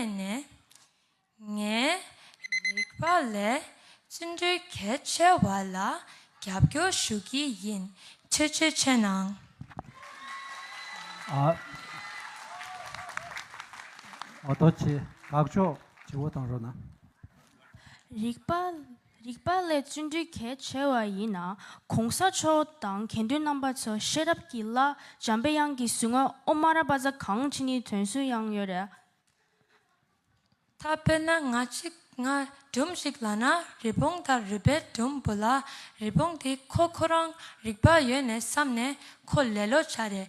བརྟེན་ནས། ངའི་རིག་པ་ལས་བརྩོན་འགྲུས་གལ་ཆེ་བ་ལ་རྒྱབ་སྐྱོར་ཞུ་གི་ཡིན་ཆོས་ཆོས་ཆོས་གནང། ཨ། རྡོ་རྗེ་དགའ་ཕྱོགས་བྱེའུ་དང་རོ་ན། རིག་པ་རིག་པ་ལས་བརྩོན་འགྲུས་གལ་ཆེ་བ་ཡིན་ན་གོང་ས་མཆོག་དང་དགེ་འདུན་རྣམ་པ་ཚོ་ཤེས་རབ་ཀྱི་བླ་འཇམ་པའི་དབྱངས་ཀྱི་ཟུར་ངོ་ཨོ་མ་ར་པ་ཛ་གངས་ཅི་ནི་དོན་སུན་དབྱངས་ཡོད་རེད། ད་དཔེར་ན་ང་གཅིག་ང་སྒྲོམ་ཞིག་ལ་ན་རི་བོང་དང་རུས་པའི་སྒྲོམ་བུ་ལ་རི་བོང་དེ་ཁོ་ཁོ་རང་རིག་པ་ཡོད་ནས་བསམ་ནས་ཁོ་ལེ་ལོ་བྱ་རེད་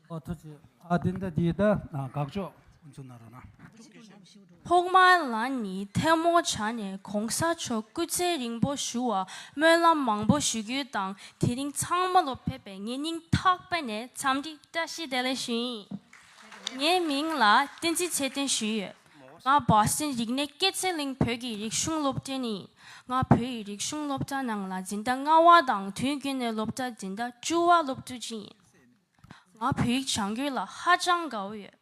ཐོག་མར་ང་ནི་ཐལ་མོ་བྱ་ནས་གོང་ས་མཆོག་སྐུ་ཚེ་རིང་པོ་བཞུགས་བར་སྨོན་ལམ་མང་པོ་ཞུ་རྒྱུ་དང་དེ་རིང་ཚང་མ་ལོ་ཕེབས་པའི་ངེད་སྙིང་ཐག་པ་ནས་འཚམས་འདྲི་བཀྲ་ཤིས་བདེ་ལེགས་ཞུ་ཡིན། ངའི་མིང་ལ་བསྟན་འཛིན་ཚེ་བརྟན་ཞུས་ཡོད། ང Boston རིག་གནས་སྐྱེད་ཚལ་གླིང་བོད་ཀྱི་རིག་གཞུང་སློབ་གྲྭའི་ནས་ཡིན། ང་བོད་ཡིག་རིག་གཞུང་སློབ་གྲྭ་ནང་ལ་འཛིན་གྲྭ་ལྔ་བ་དང་དུས་རྒྱུན་ནས་སློབ་གྲྭ་འཛིན་གྲྭ་བཅུ་བ་སློབ་ཕྲུག་ཅིག་ཡིན། ང་བོད་ཡིག་སྦྱང་རྒྱུ་ལ་ཧ་ཅང་དགའ་བོ་ཡོད།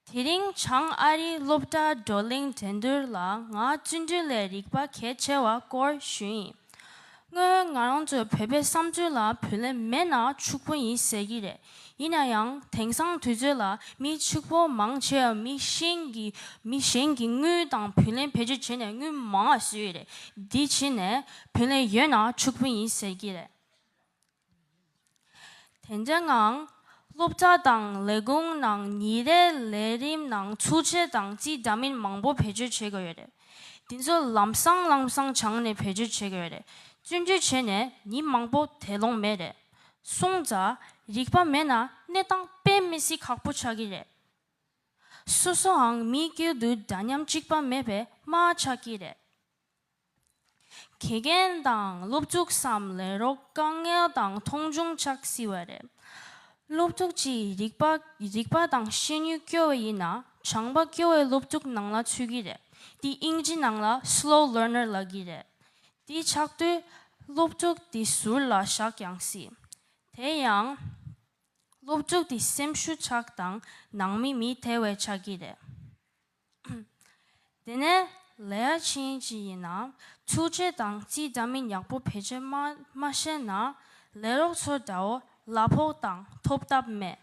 དེ་རིང་བྱང་ཨ་རིའི་སློབ་གྲྭ་བགྲོ་གླེང་འགྲན་བསྡུར་ལ་ང་བརྩོན་འགྲུས་ལས་རིག་པ་གལ་ཆེ་བ་སྐོར་ཞུས་ཡིན། སྔོན་ང་རང་ཚོའི་བོད་པའི་བསམ་ཚུལ་ལ་བུ་ལས་མེད་ན་ཕྱུག་པོ་ཡིན་ཟེར་གྱི་རེད། ཡིན་ན་ཡང་དེང་སང་དུས་ཚོད་ལ་མི་ཕྱུག་པོ་མང་ཆེ་བ་མི་གཞན་གྱི་མི་གཞན་གྱི་དངུལ་དང་བུ་ལེན་བེད་སྤྱོད་བྱས་ནས་དངུལ་མང་བ་བཟོས་ཡོད་རེད། དེ་ཕྱིན་ནས་བུ་ལེན་ཡོད་ན་ཕྱུག་པོ་ཡིན་ཟེར་གྱི་རེད། དེ་འདྲའི་ངང། སློབ་གྲྭ་དང་ལས་ཁུངས་ནང་ཉིན་རེའི་ལས་རིམ་ནང་ཚུལ་འཆལ་དང་རྩིས་འདྲ་མིན་མང་པོ་བེད་སྤྱོད་བྱེད་དགོས་ཡོད་རེད། འདི་ཚོ་ལམ་སང་ལམ་སང་བྱང་ནས་བེད་སྤྱོད་བྱེད་དགོས་ཡོད་རེད། བཙོན་འཇུག་བྱས་ནས་ཉིན་མང་པོ་དེ་ལོངས་མེད་རེད། སྲུང་བཙའ། རིག་པ་མེད་ན་གནས་སྟངས་དཔེ་མི་སྲིད་ཁག་པོ་ཆགས་ཀྱི་རེད། སོ་སོའང་མི་དཀྱུལ་དུ་འདྲ་མཉམ་གཅིག་པ་མེད་པའི་རྨ་ཆགས་ཀྱི་རེད། དགེ་རྒན་དང་སློབ་ཕྲུག་སམ་ལས་རོགས་དཀའ་ངལ་དང་མཐོང་ཆུང་ཆགས་སྲིད་པ་རེད། སློབ་ཕྲུག་ཅིག་རིག་པ་རིག་པ་དང་ཤེས་ནུས་སྐྱོ་བ་ཡིན་ན་བྱང་པ་སྐྱོ་བའི་སློབ་ཕྲུག་ནང་ལ་ཚུད་ཀྱི་རེད། འདི་དབྱིན་ཇི་ནང་ལ Slow Learner ལགས་ཀྱི་རེད། འདི་ཆགས་དུས་སློབ་ཕྲུག་དེ་ཟུར་ལ་བཞག་ཀྱང་སྲིད། དེ་ཡང། སློབ་ཕྲུག་དེ་སེམས་ཤུགས་ཆགས་དང་ནང་མི་མི་དེ་བས་ཆགས་ཀྱི་རེད། དེ་ནས་ལེ་ཡ་ཆིན་ཅི་ཡིན་ན་ཆུ་ཆེ་དང་རྩིས་འདྲ་མིན་ཡག་པོ་བེད་སྤྱད་མ་མ་ཤེས་ན་ལས་རོགས་ཚོ་འདྲ་བོ་གླ་ཕོག་དང་ཐོབ་ཐབས་མེད།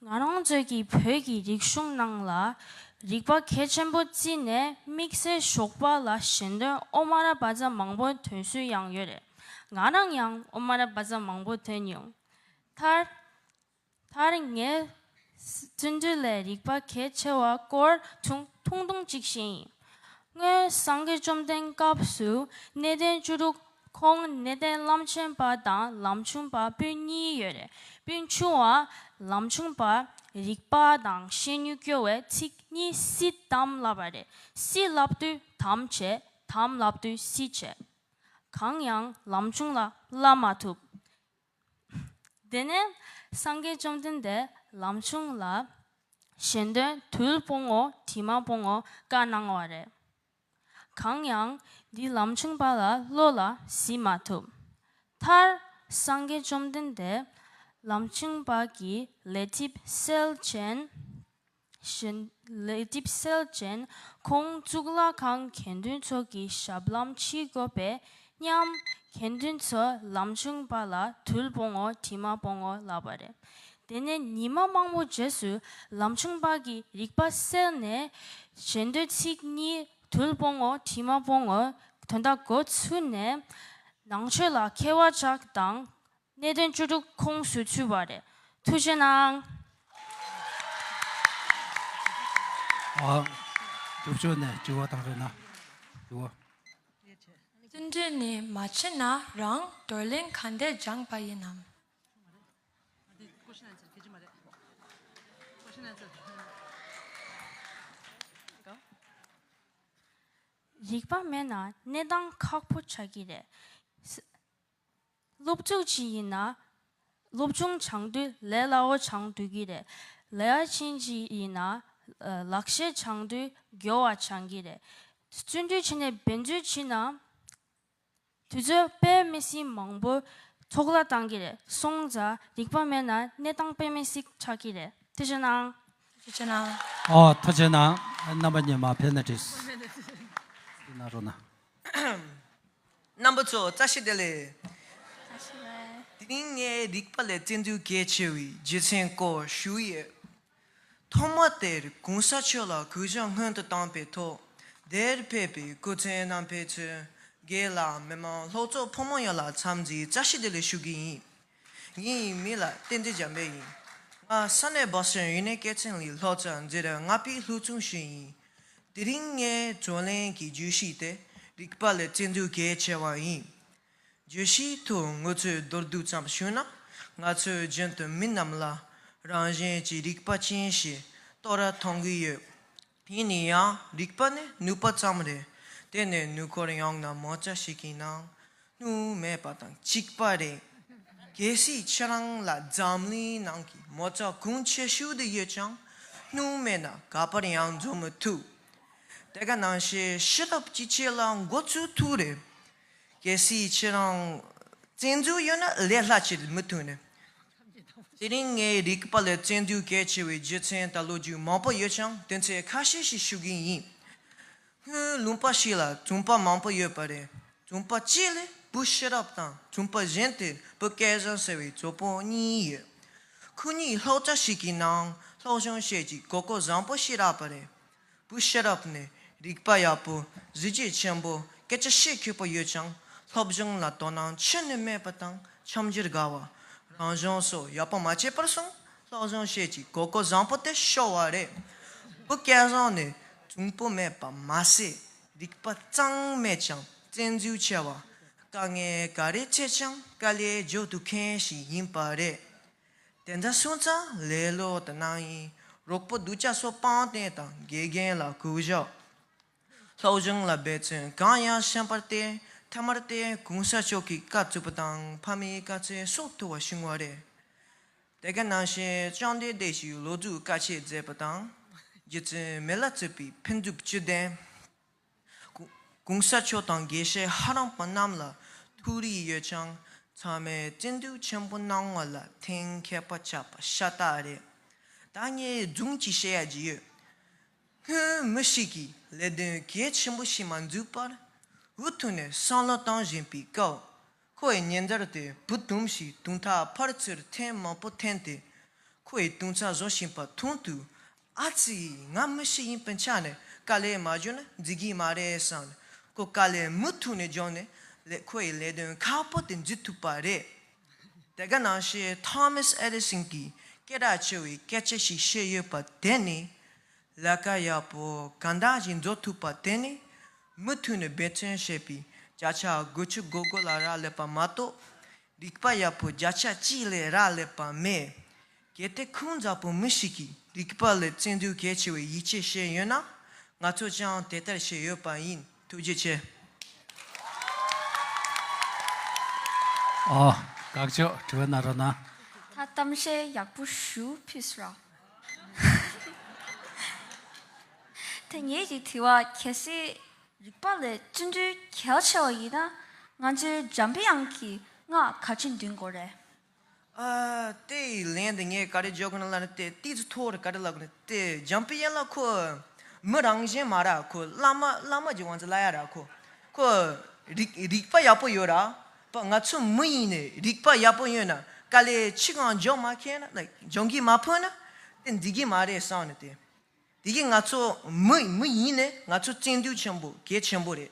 ང་རང་ཚོས་ཀྱི་བོད་ཀྱི་རིག་གཞུང་ནང་ལ་རིག་པ་གལ་ཆེན་པོ་བརྩིས་ནས་དམིགས་བསལ་ཞོགས་པ་ལ་ཞེན་དོན་ཨོ་མ་ར་བཱ་ཛ་མང་པོ་དོན་སུས་ཡང་ཡོད་རེད་ང་རང་ཡང་ཨོ་མ་ར་བཱ་ཛ་མང་པོ་དོན་ཡོང་ཐར། མཐར་ངས་བརྩོན་འགྲུས་ལས་རིག་པ་གལ་ཆེ་བ་སྐོར་ཐུང་ཐུང་བྲིས་ཤིང། སྔོན་སངས་རྒྱས་བཅོམ་ལྡན་སྐབས་སུ་གནས་བརྟན་བཅུ་དྲུག་ཁོང་གནས་བརྟན་རླབས་ཆེན་པ་དང་ལམ་ཆུང་པ་སྤུན་གཉིས་ཡོད་རེད་སྤུན་ཆུང་བ་ལམ་ཆུང་པ་རིག་པ་དང་ཤེས་ནུས་སྐྱོ་བའི་ཚིག་གཉིས་སི་དམ་བསླབས་པ་རེད་སི་བསླབས་དུས་དམ་བྱས་དམ་བསླབས་དུས་སི་བྱས། གང་ཡང་ལམ་ཆུང་ལ་བསླབས་མ་ཐུབ། དེ་ནས་སངས་རྒྱས་བཅོམ་ལྡན་འདས་ལམ་ཆུང་ལ་གཞན་དོན་དུལ་སྤོང་ངོ་དྲི་མ་སྤོང་ངོ་བཀའ་གནང་བ་རེད། གང་ཡང་འདི་ལམ་ཆུང་པ་ལ་བློ་ལ་གཟིགས་མ་ཐུབ། མཐར་སངས་རྒྱས་བཅོམ་ལྡན་འདས་ལམ་ཆུང་པ་གྱིས་ལས་ཐིབས་སེལ་ཅན། བཞིན། ལས་སྒྲིབ་སེལ་ཅན་ཁོང་གཙུག་ལག་ཁང་དགེ་འདུན་ཚོགས་ཀྱི་ཞབས་ལམ་ཕྱིའི་བཀོད་པས་མཉམ། དགེ་འདུན་ཚོ་ལམ་ཆུང་པ་ལ་དུལ་སྤོང་ངོ་དྲི་མ་སྤོང་ངོ་ལབ་པ་རེད། དེ་ནས་ཉི་མ་མང་པོ་རྗེས་སུ་ལམ་ཆུང་པ་གི་རིག་པ་སེལ་ནས། ཞེ་འདོད་ཚིག་གཉིས་དུལ་སྤོང་ངོ་དྲི་མ་སྤོང་ངོ་དོན་དག་གོ་ཚུལ་ནས། ནང་ཆོས་ལ་མཁས་བ་ཅག་དང། གནད་དོན་བཅུ་དྲུག་ཁོངས་སུ་ཚུད་པ་རེད། ཐུགས་རྗེ་གནང། རྒྱུགས་ཆོག་ནས་དྲི་བ་དང་རེ་ན་དྲི་བ། རྩིས་འབྲི་ནི་མ་བྱེད་ན་རང་བགྲོ་གླེང་ག་འདས་སྦྱངས་པ་ཡིན་ནམ། རིག་པ་མེད་ན་གནས་སྟངས་ཁག་པོ་ཆགས་ཀྱི་རེད། སློབ་ཕྲུག་ཅིག་ཡིན་ན། སློབ་ཆུང་བྱང་དུས་ལས་སླ་བོ་བྱང་དགོས་ཀྱི་རེད། ལས་ཡ་ཆེན་ཅིག་ཡིན་ན། ལག་ཤེས་བྱང་དུས་མགྱོ་བ་བྱང་གི་རེད། བརྩོན་འགྲུས་ཆེ་ནས་འབད་རྩོལ་བྱས་ན། དུས་ཚོད་དཔེ་མི་སྲིད་མང་པོ་ཚོགས་ལ་གཏང་གི་རེད། སོང་ཙ་རིག་པ་མེད་ན་གནས་སྟངས་དཔེ་མི་སྲིད་ཆགས་ཀྱི་རེད། ཐུགས་ཆེ་གནང། ཐུགས་ཆེ་གནང། ཨོ་ཐུགས་ཆེ་གནང། རྣམ་པ་གཉིས་མ་ཕེབས་ན་བྲིས། གནང་རོགས་གནང། རྣམ་པ་ཚོ་བཀྲ་ཤིས་བདེ་ལེགས། དེ་རིང་ངས་རིག་པ་ལས་བརྩེ་འདུན་གལ་ཆེ་བའི་རྗེ་བཙུན་སྐོར་ཞུ་ཡོད། ཐོག་མ་དེར་གོང་ས་མཆོག་ལ་གུས་ཕྱག་སྔོན་དུ་བཏང་པའི་ཐོག་དེར་ཕེབས་པའི་སྐུ་མཚན་རྣམ་འཕེལ་ཚོའི་འགན་ལ་མི་མང་ལྷོག་ཚོགས་ཕོ་མོ་ཡོངས་ལ་འཚམས་འདྲིའི་བཀྲ་ཤིས་བདེ་ལེགས་ཞུ་གི་ཡིན། ཉིན་ཡིན་མིན་ལ་བརྟེན་ཏེ་འཇམ་དཔལ་ཡིན། ང་ས་གནས་སྦག་སོན་ཡུན་ནན་སྐད་ཚན་ལི་ལྷོ་རྩ་འཛེག་ར་ང་པིའི་ལྷུག་རྩོམ་ཞིག་ཡིན། དེ་རིང་ངས་བརྩོན་ལེན་གྱི་བརྗོད་གཞི་དེ་རིག་པ་ལས་བརྩེ་འདུན་གལ་ཆེ་བ་ཡིན། བརྗོད་གཞི་དུ་ངོ་ཚོས་མདོར་བསྡུས་ཙམ་ཞུས་ན། ང་ཚོས་རྒྱུན་དུ་མི་རྣམས་ལ་རང་གཞན་གྱི་རིག་པ་ཅན་ཞེས་རྟོགས་ར་མཐོང་གི་ཡོད། དེ་ནི་ཡང་རིག་པ་ནི་ནུས་པ་ཙམ་རེད། དེ་ནི་ནུས་ཁོར་ཡང་ན་མོ་ཅག་ཞིག་གི་ནང་དུ་མེད་པ་དང་གཅིག་པ་རེད། གལ་སྲིད་ཁྱེད་རང་ལ་འཛམ་གླིང་ནང་གི་མོ་ཅག་གང་ཆེ་ཤོས་དེ་ཡོད་ཀྱང་ནུས་མེད་ན་ག་པར་ཡང་འཛོམས་མི་ཐུབ། དེ་ག་ནང་བཤད་ཤེས་རབ་ཀྱི་ཆེད་ལ་མགོ་ཚོས་ཐུག་རེད། གལ་སྲིད་ཁྱེད་རང་བཙན་འཛུལ་ཡོད་ན་ལས་སླ་ཆེད་མི་ཐོན་ནི། དེ་རིང་ངའི་རིག་པ་ལས་བཙན་འཛུལ་གལ་ཆེ་བའི་རྒྱུ་མཚན་ད་ལོ་རྒྱུས་མང་པོ་ཡོད་ཀྱང་དོན་ཚན་ཁ་ཤས་ཤིག་ཞུ་གིན་ཡིན། སྔོན་ལུང་པ་ཞིག་ལ་བཙུན་པ་མང་པོ་ཡོད་པ་རེད་བཙུན་པ་གཅིག་ལས་བུ་ཤེས་རབ་དང་བཙུན་པ་གཞན་དེར་བུ་སྐལ་བཟང་ཟེར་བའི་གཙོ་བོ་གཉིས་ཡོད། ཁོ་གཉིས་ལྷོག་ཆ་ཞིག་གི་ནང་ལྷོག་གཞུང་བཤད་ཀྱི་གོ་གོ་བཟང་པོ་ཤེས་རབ་པ་རེད། པོའི་ཤེས་རབ་ནི་རིག་པ་ཡག་པོ་གཟི་བརྗིད་ཆེན་པོ་སྐད་ཆ་བཤད་མཁས་པོ་ཡོད་ཅིང་སློབ་སྦྱོང་ལ་དོ་སྣང་ཆེན་ནུས་མེད་པ་དང་འཆམ་གཞིར་དགའ་བ། རང་སྦྱོང་སོགས་ཡག་པོ་མ་བྱས་པར་སོང་སློབ་སྦྱོང་བཤད་ཀྱི་གོ་སྐོ་བཟང་པོ་དེ་ཤོར་བ་རེད། བུ་སྐལ་བཟང་ནི་འབྱུང་པོ་མེད་པ་མ་ཟད་རིག་པ་གཙང་མས་ཀྱང་བཙན་འཛུལ་ཆེ་བ། དཀའ་ངལ་ག་རེ་འཕྲད་ཀྱང་དཀའ་ལས་འཇོག་ཐུབ་མཁན་ཞིག་ཡིན་པ་རེད། དེ་འདྲ་སོང་ཙང་ལེ་ལོ་དུ་སྣང་ཡིན་རོགས་པོ་གདུལ་བྱ་སོ་སྤང་བསྟན་དང་དགེ་རྒན་ལ་གུས་ཞབས་སློབ་སྦྱོང་ལ་འབད་བརྩོན་གང་ཡང་ཤན་པར་བརྟེན་མཐའ་མར་བསྟན་གུང་ས་མཆོག་གིས་བཀའ་བཙུགས་པ་དང་ཕ་མའི་བཀའ་ཚེ་སྲོག་ཐུ་བ་བྱུང་བ་རེད། དེ་ག་ནང་བཞིན་བཅོམ་ལྡན་འདས་ཀྱིས་ལོ་རྒྱུས་བཀའ་ཆད་མཛད་པ་དང་རྗེ་བཙུན་མི་ལ་བཙུད་པའི་ཕུན་ཚོགས་བཅུད་ལྡན། གོང་ས་མཆོག་དང་དགེ་བཤེས་ཧ་རམ་པ་རྣམས་ལ་ཐུགས་རིག་ཡོད་ཅིང་ཚང་མས་བརྩི་འདུད་ཆེན་པོ་གནང་བ་ལ་དེང་མཁས་པ་ཆགས་པ་ཤ་སྟག་རེད། ད་ངས་རྫུན་གྱིས་བཤད་ཡ་གྱི་ཡོད། སྔོན་མི་ཞིག་གིས་ལས་དོན་གལ་ཆེན་པོ་ཞིག་མ་འཛུགས་པར་འུ་ཐུག་ནས་བསམ་བློ་བཏང་བཞིན་པའི་སྐབས་ཁོ་ཡི་ཉེ་འདར་དེ་བུ་དུམ་ཞིག་དུང་ཐག་འཕར་ཚུར་ཐེངས་མང་པོ་འཐེན་ཏེ་ཁོ་ཡི་དུང་ཚ་བཟོ་བཞིན་པ་མཐོང་དུས་ཨ་ཙི། ང་མི་ཞིག་ཡིན་པའི་ཆ་ནས་དཀའ་ལས་མ་བྱུང་ན་འཛིན་གྱི་མ་རེད་བསམ་ནས་ཁོ་དཀའ་ལས་མུ་ཐུག་ནས་འཇོག་ནས་ལས་ཁོ་ཡི་ལས་དོན་ཁག་པོ་དེ་འཛིན་ཐུབ་པ་རེད། དེ་ག་ནང་བཤད Thomas Edison གྱིས་སྐད་གྲགས་ཆེ་བའི་སྐད་ཆ་ཞིག་བཤད་ཡོད་པ་དེ་ནི། ལས་ཀ་ཡག་པོ་ག་འདྲ་ཞིག་འཛོག་ཐུབ་པ་དེ་ནི་མུ་ཐུག་ནས་འབད་བརྩོན་བྱས་པའི་བརྒྱ་ཆ་དགུ་ཆུ་དགུ་དགུ་ལ་རག་ལས་པ་མ་གཏོགས། རིག་པ་ཡག་པོ་བརྒྱ་ཆ་གཅིག་ལས་རག་ལས་པ་མེད། གལ་ཏེ་ཁོང་འཛམ་བུ་མི་ཞིག་གི་རིག་པ་ལས་བརྩེ་འདུན་གལ་ཆེ་བའི་ཡིད་ཆེས་བྱས་ཡོད་ན། ང་ཚོས་ཀྱང་དེ་ལྟར་བྱས་ཡོད་པ་ཡིན་ཐུགས་རྗེ་ཆེ། ཨོ། དགག་ཕྱོགས་དྲི་བ་གནང་རོགས་གནང། ད་གཏམ་བཤད་ཡག་པོ་ཞུ་ཕིས་ར། དེ་ངེད་ཀྱི་དྲི་བ་གལ་སྲིད་རིག་པ་ལས་བརྩི་འདུན་གལ་ཆེ་བ་ཡིན་ན་ང་ཚོའི་འཇམ་དབྱངས་ཀྱི་སྔགས་ག་ཅི་འདོན་དགོས་རེད། ཏེ། ལན་འདི་ངས་ག་རེ་བརྗོད་དགོས་ན་ལ་ནི་ཏེ་ཏིས་ཚུ་ཐོ་རུ་ག་རེ་ལབ་དགོས་ན་ཏེ་འཇམ་དཔལ་ཡན་ལག་ཁོ། མི་རང་གཞན་མ་ར་ཁོ་བླ་མ་བླ་མ་གྱི་དབང་ཚད་བླ་ཡ་ར་ཁོ། ཁོ། རིག་པ་ཡག་པོ་ཡོད་ར་པ་ང་ཚོ་མི་ཡིན་ནས་རིག་པ་ཡག་པོ་ཡོད་ན་ཀ་ལས་ཕྱི་གང་འཇོག་མ་མཁན་ན like འཇོག་གིན་མ་ཕོད་ན་ཏེ་འདི་གིན་མ་རེད་བསམ་ནས་ཏེ། དེ་གིན་ང་ཚོ་མི་མི་ཡིན་ནས་ང་ཚོ་བཙན་དུས་ཆེན་པོ་གལ་ཆེན་པོ་རེད།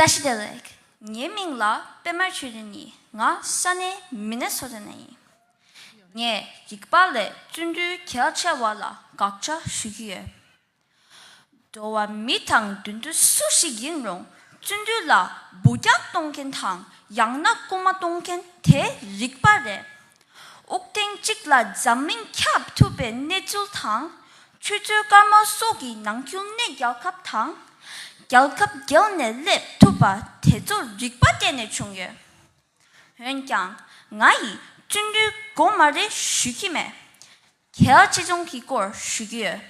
བཀྲ་ཤིས་བདེ་ལེགས། ངའི་མིང་ལ་པད་མར་ཆོས་འཛིན་ཡིན། ང་ས་གནས་མི་ནེ་སོ་ཏ་ནས་ཡིན། ངས་རིག་པ་ལས་བརྩོན་འགྲུས་གལ་ཆེ་བ་ལ་དགག་བྱ་ཞུ་གི་ཡོད། འགྲོ་བ་མི་དང་མདུན་དུ་སུ་ཞིག་ཡིན་རུང་བརྩོན་འགྲུས་ལ་འབུ་རྐྱང་གཏོང་མཁན་དང་ཡང་ན་རྐུ་མ་གཏོང་མཁན་དེ་རིག་པ་རེད། དབུགས་ཐེངས་གཅིག་ལ་འཛམ་གླིང་ཁྱབ་ཐུབ་པའི་གནས་ཚུལ་དང། ཆུ་ཚོད་སྐར་མ་སོགས་ཀྱི་ནང་རྒྱུན་གནས་རྒྱལ་ཁབ་དང། རྒྱལ་ཁབ་བརྒལ་ནས་སླེབས་ཐུབ་པ་དེ་ཚོ་རིག་པ་བསྟན་ནས་བྱུང་ཡོད། འོན་ཀྱང་ང་ཡིས་བཙོན་འགྲུལ་མགོ་དམའ་རེ་ཞུས་ཀྱི་མེད། གལ་ཆེ་ཆུང་གི་སྐོར་ཞུས་ཀྱི་ཡོད།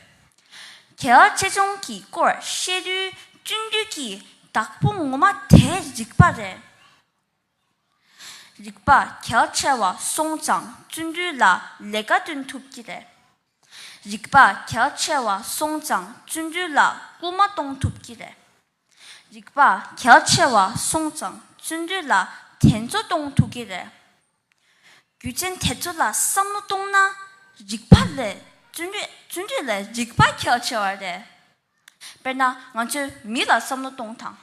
གལ་ཆེ་ཆུང་གི་སྐོར་བཤད་དུས་བཙོན་འགྲུལ་གྱི་བདག་པོ་ངོ་མ་དེ་རིག་པ་རེད། རིག་པ་གལ་ཆེ་བ་སོང་ཙང་བརྩོན་འགྲུས་ལ་ལས་ཀ་བསྟུན་ཐུབ་ཀྱི་རེད། རིག་པ་གལ་ཆེ་བ་སོང་ཙང་བརྩོན་འགྲུས་ལ་སྐུལ་མ་གཏོང་ཐུབ་ཀྱི་རེད། རིག་པ་གལ་ཆེ་བ་སོང་ཙང་བརྩོན་འགྲུས་ལ་དྲན་གསོ་གཏོང་ཐུབ་ཀྱི་རེད། རྒྱུ་ཅན་དེ་ཚོ་ལ་བསམ་བློ་གཏོང་ན་རིག་པ་ལས་བརྩོན་འགྲུས་ལས་རིག་པ་གལ་ཆེ་བ་རེད། དཔེར་ན་ང་ཚོས་མི་ལ་བསམ་བློ་གཏོང་དང།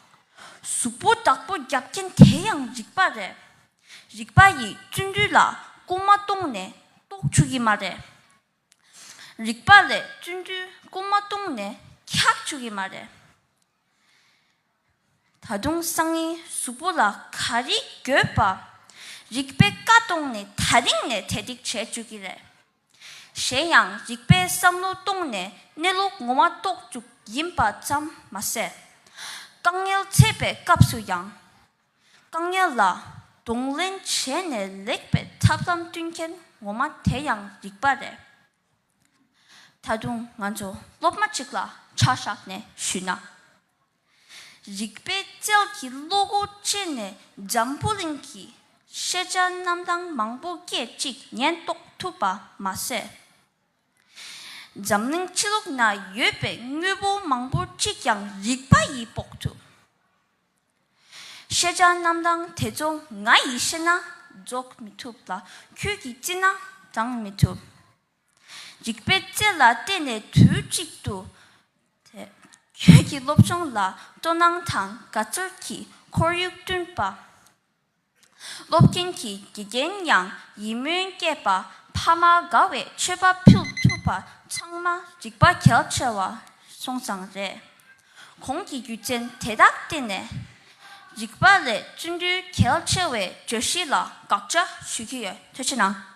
གཟུགས་པོ་བདག་པོ་རྒྱབ་ཀྱིན་དེ་ཡང་རིག་པ་རེད། རིག་པ་ཡིས་བརྩོན་འགྲུས་ལ་སྐུལ་མ་གཏོང་ནས་ལྟོགས་འཕྱུགས་ཀྱི་མ་རེད། རིག་པ་ལས་བརྩོན་འགྲུས་སྐུལ་མ་གཏོང་ནས་འཁྱག་འཕྱུགས་ཀྱི་མ་རེད། ད་དུང་སང་ཉིན་གཟུགས་པོ་ལ་ག་རེ་འགྱོད་པ། རིག་པས་བཀའ་གཏོང་ནས་ད་རིང་ནས་དལ་འགྲིག་བྱས་འཇུག་གི་རེད། གཞན་ཡང་རིག་པའི་བསམ་བློ་གཏོང་ནས་གནས་ལུགས་ངོ་མ་རྟོགས་བཅུག་ཡིན་པ་ཙམ་མ་ཟད། དཀའ་ངལ་འཕྲད་པའི་སྐབས་སུ་ཡང། དཀའ་ངལ་ལ་གདོང་ལེན་བྱས་ནས་ལེགས་པའི་ཐབས་ལམ་བསྐྲུན་མཁན་ངོ་མ་དེ་ཡང་རིག་པ་རེད། ད་དུང་ང་ཚོ་སློབ་མ་གཅིག་ལ་ཆ་བཞག་ནས་ཞུས་ན། རིག་པའི་རྩལ་གྱིས་བློ་སྒོ་བཅད་ནས་འཇམ་པོ་གླིང་གི་ཤེས་བྱ་རྣམ་གྲངས་མང་པོ་སྐད་ཅིག་ཉན་རྟོགས་ཐུབ་པ་མ་ཟད། འཛམ་གླིང་ཕྱི་ལོགས་ན་ཡོད་པའི་དངོས་པོ་མང་པོ་གཅིག་ཀྱང་རིག་པ་ཡིས་དཔོག་ཐུབ། ཤེས་བྱ་རྣམ་གྲངས་དེ་ཚོ་ང་ཡིས་ཤེས་ན་རྫོགས་མི་ཐུབ་ལ་ཁྱོད་ཀྱིས་བརྩིས་ན་བགྲང་མི་ཐུབ། རིག་པའི་རྩལ་ལ་བརྟེན་ནས་དུས་གཅིག་ཏུ། ཁྱོད་ཀྱི་སློབ་སྦྱོང་ལ་སྤྲོ་སྣང་དང་དགའ་ཚོར་གྱི་ཁོར་ཡུག་བསྐྲུན་པ། སློབ་མཁན་གྱི་དགེ་རྒན་ཡང་ཡིད་སྨོན་སྐྱེས་པ་ཕ་མ་དགའ་བའི་མཆོད་པ་ཕུལ་ཐུབ་པ་ཚང་མ་རིག་པ་གལ་ཆེ་བ་སོང་ཙང་རེད། གོང་གི་རྒྱུ་མཚན་དེ་དག་བརྟེན་ནས། རིག་པ་ལས་བརྩོན་འགྲུས་གལ་ཆེ་བའི་བརྗོད་གཞི་ལ་དགག་བྱ་ཞུས་ཀྱི་ཡོད་ཐོས་ཆེ་གནང།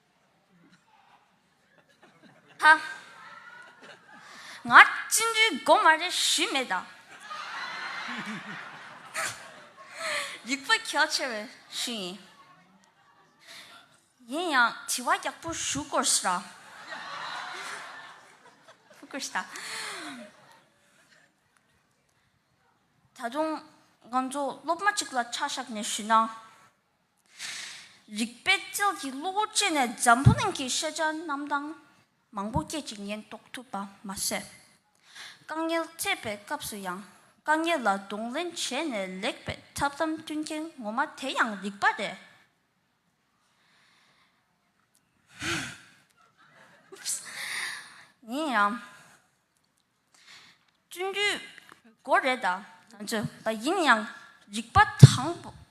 ཧ། ང་སྤྱི་འཐུས་སྒོ་མ་རེ་ཞུས་མེད་ད། རིག་པ་གལ་ཆེ་བས་ཞུས་ཡིན། ཡིན་ཡང་དྲི་བ་ཡག་པོ་ཞུ་དགོས་ཞེས་ར། དགོས་ཞེས་ར། ད་དུང་ང་ཚོ་སློབ་མ་གཅིག་ལ་ཆ་བཞག་ནས་ཞུས་ན། རིག་པའི་རྩལ་གྱིས་བློ་བུར་སྤྱད་ནས་འཛམ་བུ་གླིང་གི་ཤེས་བྱ་རྣམ་གྲངས་མང་པོ་སྐད་ཅིག་ཉན་རྟོགས་ཐུབ་པ་མ་ཟད། དཀའ་ངལ་སྤྱད་པའི་སྐབས་སུ་ཡང་དཀའ་ངལ་ལ་གདོང་ལེན་བྱས་ནས་ལེགས་པའི་ཐབས་ལམ་སྟོན་མཁན་ངོ་མ་དེ་ཡང་རིག་པ་རེད། ཡིན་ཡང། བཙུན་རྒྱུད་མགོ་རེད་ད་ཚོད་པ་ཡིན་ཡང་རིག་པ་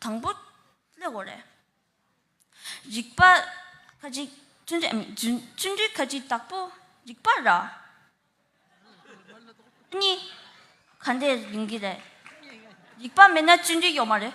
དང་པོ་སླེ་བོ་རེད། རིག་པ་ཁ་ཅིག་བཙུན་རྒྱུད་མིན་བཙུན་རྒྱུད་ཁ་ཅིག་དག་པོ་རིག་པ་ར་གཉིས་ག་འདྲེ་ཡིན་གྱི་རེད། རིག་པ་མེད་ན་བཙུན་རྒྱུད་ཡོད་མ་རེད།